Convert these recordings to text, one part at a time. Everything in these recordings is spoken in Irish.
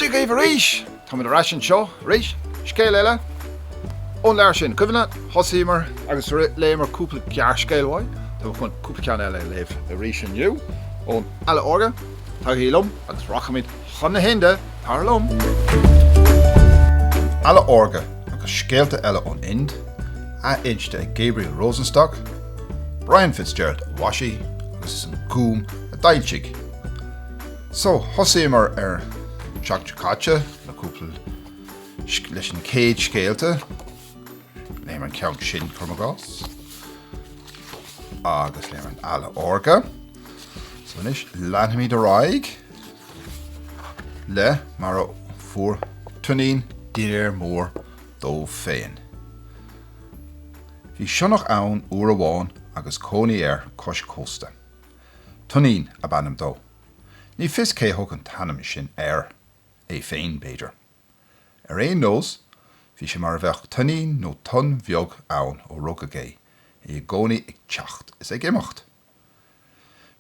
Dia dhaoibh arís! Táimid ar ais anseo arís, scéal eile ón leabhar sin. Cuimhin libh, thosaíomar agus léamar cúpla gearrscéal uaidh, tá mé chun cúpla ceann eile a léamh arís inniu ón Eala Órga, tagaigí liom agus rachaimid Chun na hInde, tar liom! Eala Órga agus scéalta eile ón Ind, athinste ag Gabriel Rosenstock, Brian Fitzgerald a mhaisigh agus is an Gúm a d'fhoilsigh. So, thosaíomar an tseachtain seo caite le cúpla leis an chéad scéalta, léamar an ceann sin, agus léamar an Eala Órga. So, anois, leanfaimid ar aghaidh. le mar a fuair Tuinnín dinnéar mór dó féin. Bhí sionnach ann uair amháin agus cónaí air cois cósta. Tuinnín ab ainm dó. Ní fios cé thug an t-ainm sin air, é féin, b'fhéidir. Ar aon nós, bhí sé mar a bheadh tuinnín nó tonn bheag ann ó rugadh é, é i gcónaí ag teacht is ag imeacht.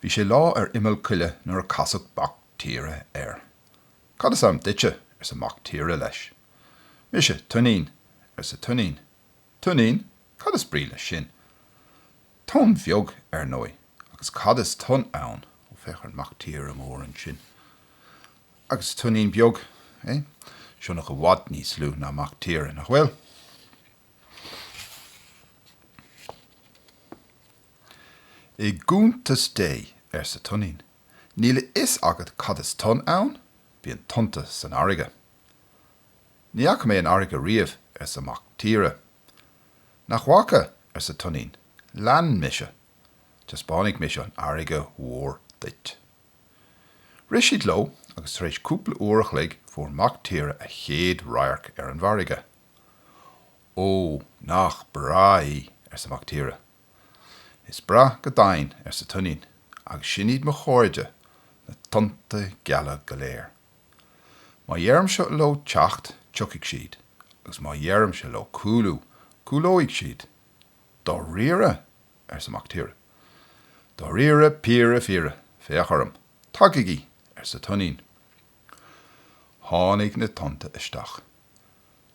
Bhí sé lá ar imeall coille nuair a casadh mac tíre air. Cad is ainm duitse? arsa mac tíre leis. Mise, Tuinnín, arsa Tuinnín. Tuinnín? Cad is brí leis sin? Tonn bheag, ar ndóigh. Agus cad is tonn ann? Ó, féach ar an mac tíre mór ansin. Agus Tuinnín beag, é? Sionnach i bhfad níos lú ná mac tíre, nach bhfuil? I gcuntas Dé, arsa Tuinnín, níl a fhios agat cad is tonn ann, bíonn tonnta san fharraige. Ní fhaca mé an fharraige riamh, arsa Mac Tíre. Nach bhfaca, arsa Tuinnín, lean mise. Taispeánfaidh mise an fharraige mhór duit. Rith siad leo agus tar éis cúpla uair a chloig fuair Mac Tíre a chéad radharc ar an bhfarraige. Ó, nach breá í, arsa Mac Tíre, Is breá go deimhin, arsa Tuinnín, agus sin iad mo chairde, na tonnta geala go léir. Má deirimse leo teacht, tiocfaidh siad, agus má deirimse leo cúlú, cúlóidh siad. Dáiríre? arsa Mac Tíre. Dáiríre, píre, fíre, féach orm. Tagaigí! arsa Tuinnín. Tháinig na tonnta isteach.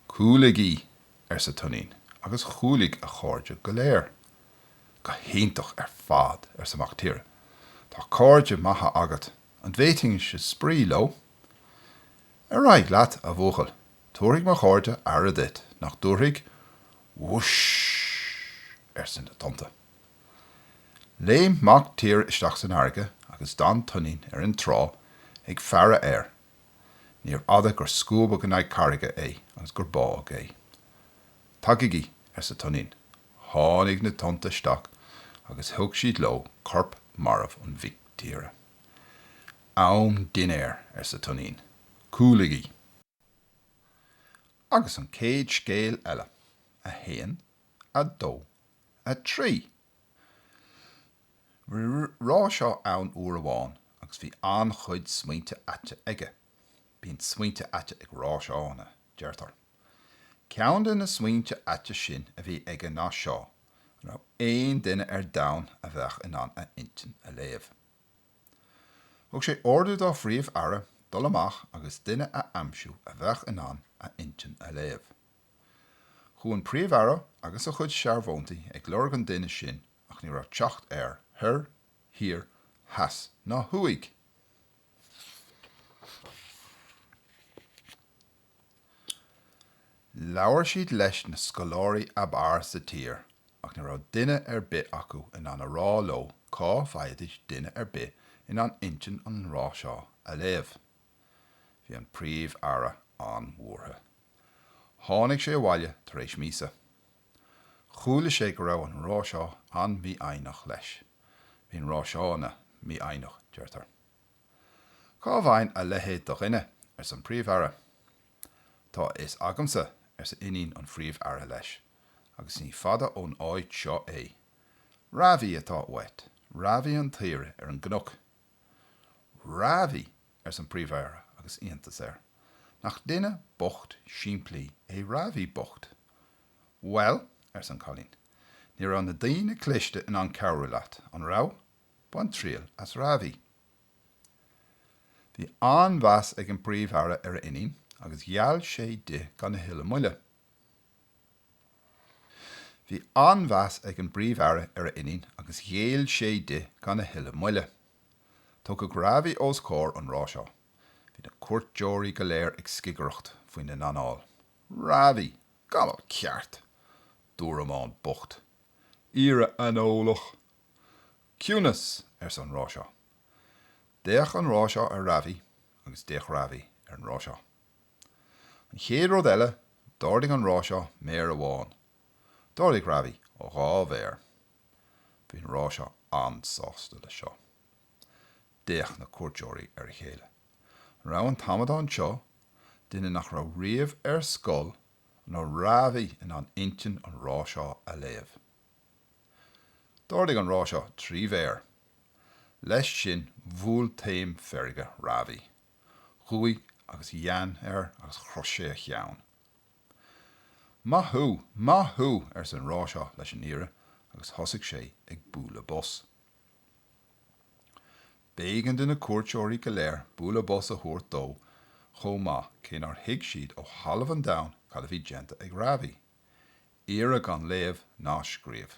Cúlaigí! arsa Tuinnín agus chúlaigh a chairde go léir. Go hiontach ar fad, arsa Mac Tíre. Tá cairde maithe agat. An bhféadfainnse spraoi leo? Ar aghaidh leat, a bhuachaill. Tabharfaidh mo chairde aire duit, nach dtabharfaidh? Whoosh! arsa na tonnta. Léim Mac Tíre isteach san fharraige agus d'fhan Tuinnín ar an trá ag faire air Níor fhada gur scuabadh in aghaidh carraige é agus gur bádh é. Tagaigí! arsa Toinín. Tháinig na tonnta isteach agus thug siad leo corp marbh an mhic tíre. Am dinnéir! arsa Toinín. Cúlaigí! Agus an chéad scéal eile. A haon, a dó, a trí. Rája ann uair amháin agus bhí an-chuid smaointe aite aige. Bíonn smaointe aite ag Rájanna, deirtear. Ceann de na smaointe aite sin a bhí aige ná seo, an raibh aon duine ar domhan a bheadh in ann a intinn a léamh? Thug sé ordú dá Phríomh-Aire dul amach agus duine a aimsiú a bheadh in ann a intinn a léamh. Chuaigh an Príomh-Aire agus a chuid searbhóntaí ag lorg an duine sin ach ní raibh teacht air thoir, thiar, theas ná thuaidh. Labhair siad leis na scoláirí ab fhearr sa tír ach ní raibh duine ar bith acu in ann a rá leo cá bhfaighidís duine ar bith in ann intinn an Rája a léamh. Bhí an Príomh Aire an-bhuartha. Tháinig sé abhaile tar éis míosa. Chuala sé go raibh an Rája an-mhífhoighneach leis. Bíonn Rájanna mífhoighneach, deirtear. Cá bhfaighinn a leithéid de dhuine, arsa an Príomh Aire. Tá a fhios agamsa, arsa iníon an Phríomh Aire leis, agus ní fada ón áit seo é. Ravi atá uait. Ravi an t-aoire ar an gcnoc. Ravi! arsa an Príomh-Aire agus iontas air. Nach duine bocht simplí é Ravi bocht! Bhuel, arsa an Cailín, ní raibh na daoine cliste in ann cabhrú leat, an raibh? Bain triail as Ravi. Bhí an-mheas ag an bPríomh-Aire ar a iníon agus ghéill sé di gan a thuilleadh moille. Bhí an-mheas ag an bPríomh-Aire ar a iníon agus ghéill sé di gan a thuilleadh moille. Tógadh Ravi os comhair an Rája. Bhí na cúirteoirí go léir ag scigireacht faoina n-anáil. Ravi! Gamal ceart! Dúramán bocht! Aoire aineolach! Ciúnas! arsa an Rája. D'fhéach an Rája ar Ravi agus d'fhéach Ravi ar an Rája. An chéad rud eile, d'ardaigh an Ráiseá méar amháin. D'ardaigh Ravi a dhá mhéar. Bhí an Ráiseá an-sásta leis seo. D'fhéach na cuairteoirí ar a chéile. An raibh an t-amadán seo, duine nach raibh riamh ar scoil, an raibh Ravi in ann intinn an Ráiseá a léamh? D'ardaigh an Ráiseá trí mhéar. Leis sin bhuail taom feirge Ravi. Dhubhaigh agus dheann air agus chroith sé a cheann. Maith thú! Maith thú! arsa an Ráiseá leis an aoire agus thosaigh sé ag bualadh bos. B'éigean do na cuairteoirí go léir bualadh bos a thabhairt dó chomh maith cé nár thuig siad ó thalamh an domhain cad a bhí déanta ag Ravi, aoire gan léamh ná scríobh.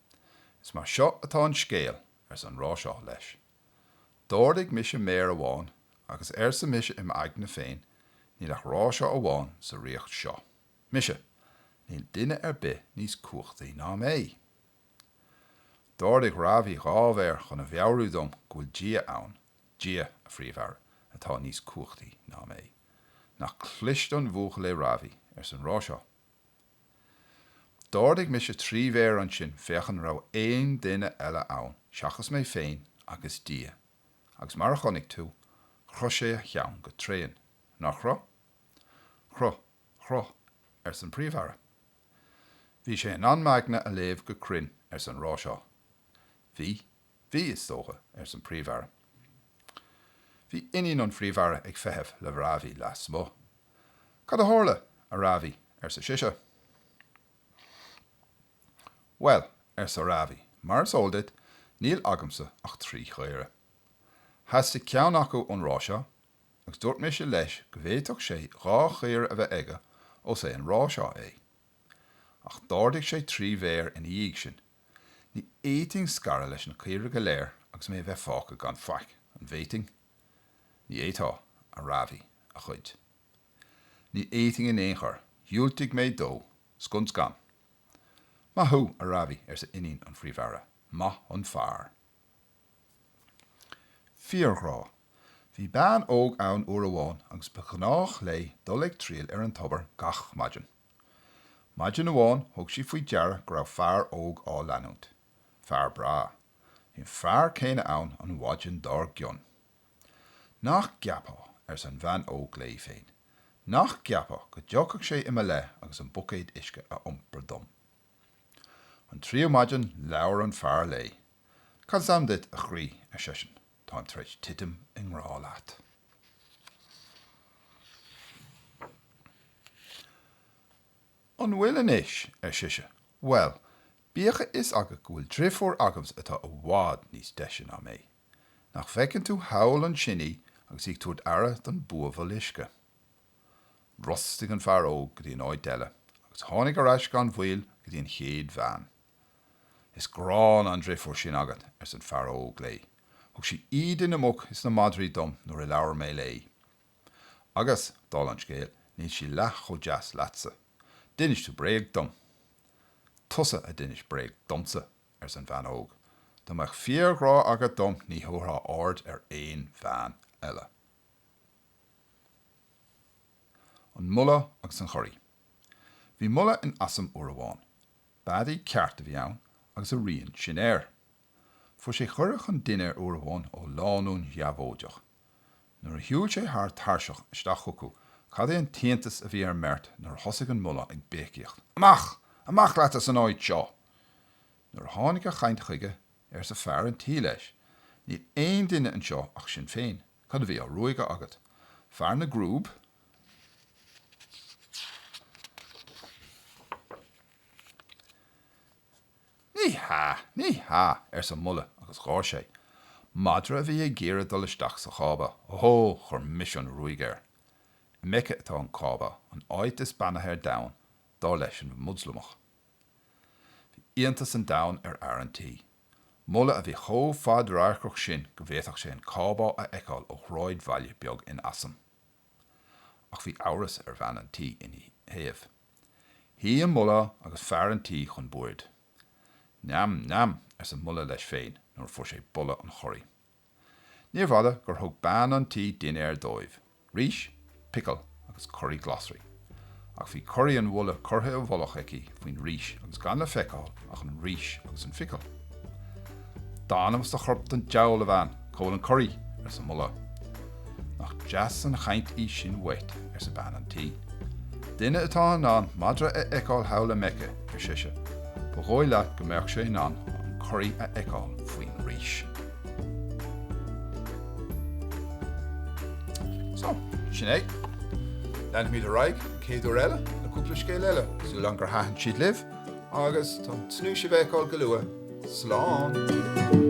Is mar seo atá an scéal, arsa an Ráiseá leis. D'ardaigh mise méar amháin agus arsa mise im aigne féin, níl ach Ráiseá amháin sa ríocht seo. Mise! Níl duine ar bith níos cumhachtaí ná mé! D'ardaigh Ravi dhá mhéar chun a mheabhrú dom go bhfuil Dia ann, Dia, a Phríomh-Aire, atá níos cumhachtaí ná mé. Nach cliste an bhuachaill é Ravi, arsa an Ráiseá. D'ardaigh mise trí mhéar ansin féach an raibh aon duine eile ann seachas mé féin agus Dia, agus mar a chonaic tú, chroith sé a cheann go tréan, nár chroith? Chroith, chroith, arsa an Príomh-Aire. Bhí sé in ann m'aigne a léamh go cruinn, arsa an Ráiseá. Bhí. Bhí, is dócha, arsa an Príomh-Aire. Bhí iníon an Phríomh-Aire ag feitheamh le Ravi lasmuigh. Cad a tharla, a Ravi? arsa sise. Bhuel, arsa Ravi, mar is eol duit, níl agamsa ach trí chaora. Theastaigh ceann acu ón Ráiseá, agus dúirt mise leis go bhféadfadh sé dhá chaora a bheith aige ós é an Ráiseá é. Ach d'ardaigh sé trí mhéar ina dhiaidh sin, Ní fhéadfainn scaradh leis na caoirigh go léir agus mé a bheith fágtha gan faic, an bhféadfainn? Ní fhéadfá, a Ravi, a chuid. Ní fhéadfainn in aon chor, dhiúltaigh mé dó scun scan. Maith thú, a Ravi, arsa iníon an Phríomh-Aire, maith an fear. Fíorghrá. Bhí bean óg ann uair amháin agus ba ghnách léi dul ag triall ar an tobar gach maidin. Maidin amháin thug sí faoi deara go raibh fear óg á leanúint. Fear breá. Bhí an fear céanna ann an mhaidin dár gcionn. Nach gceapfá, arsa an bhean óg léi féin, nach gceapfá go dtiocfadh sé i mo leith agus an buicéad uisce a iompar dom. An tríú maidin labhair an fear léi. Cad is ainm duit, a chroí? ar seisean. Táim tar éis titim i ngrá leat. An bhfuil anois? ar sise. Bhuel, bíodh a fhios agat go bhfuil driofúr agamsa atá i bhfad níos deise ná mé. Nach bhfeiceann tú thall ansin í agus í ag tabhairt aire don buabhall uisce? Bhrostaigh an fear óg go dtí an áit eile agus tháinig ar ais gan mhoill go dtí an chéad bhean. Is gránna an driofúr sin agat, arsa an fear óg léi. Thug sí íde na muc is na madraí dom nuair a labhair mé léi. Agus, dála an scéil, níl sí leath chomh deas leatsa. D'inis tú bréag dom. Tusa a d'inis bréag domsa, arsa an bhean óg. Dá mbeadh fíorghrá agat dom ní thabharfá aird ar aon bhean eile. An Mulla agus an Churaí Bhí mulla in Assam uair amháin. Beadaí ceart a bhí ann agus a rian sin air. Fuair sé cuireadh chun dinnéir uair amháin ó lánúin dheabhóideach. Nuair a shiúil sé thar tairseach isteach chucu cad é an t-iontas a bhí ar an mbeirt nuair a thosaigh an mulla ag béicíocht, Amach! Amach leat as an áit seo! Nuair a tháinig a chaint chuige, arsa fear an tí leis, Níl aon duine anseo ach sinn féin. Cad a bhí á ruaigeadh agat? Fear na gcrúb? Ní hea! Ní hea! arsa an mulla agus gháir sé. Madra a bhí ag iarraidh dul isteach sa chába. Ó! Chuir mise an ruaig air. I Meice atá an cába, an áit is beannaithe ar domhan, dar leis an Moslamach. Bhí iontas an domhain ar fhear an tí. Mulla a bhí chomh fadradharcach sin go bhféadfadh sé an cába a fheiceáil ó shráidbhaile beag in Assam. Ach bhí amhras ar bhean an tí ina thaobh. Shuigh an mulla agus fear an tí chun boird. Neam, neam, arsa an mulla leis féin nuair a fuair sé boladh an churaí. Níorbh fhada gur thug bean an tí dinnéar dóibh, rís, picil agus curaí glasraí. Ach bhí curaí an mhulla curtha i bhfolach aici faoin rís agus gan le feiceáil ach an rís agus an phicil. D'anam is do chorp don deabhal, a bhean, cá bhfuil an curaí? arsa an mulla. Nach deas an chaint í sin uait, arsa bean an tí. Duine atá in ann madra a fheiceáil thall i Meice, ar sise, ba dhóigh leat go mbeadh sé in ann an curaí a fheiceáil faoin rís. So, sin é. Leanfaimid ar aghaidh an chéad uair eile le cúpla scéal eile. Súil agam gur thaitin siad libh agus táim ag tnúth sibh a fheiceáil go luath. Slán!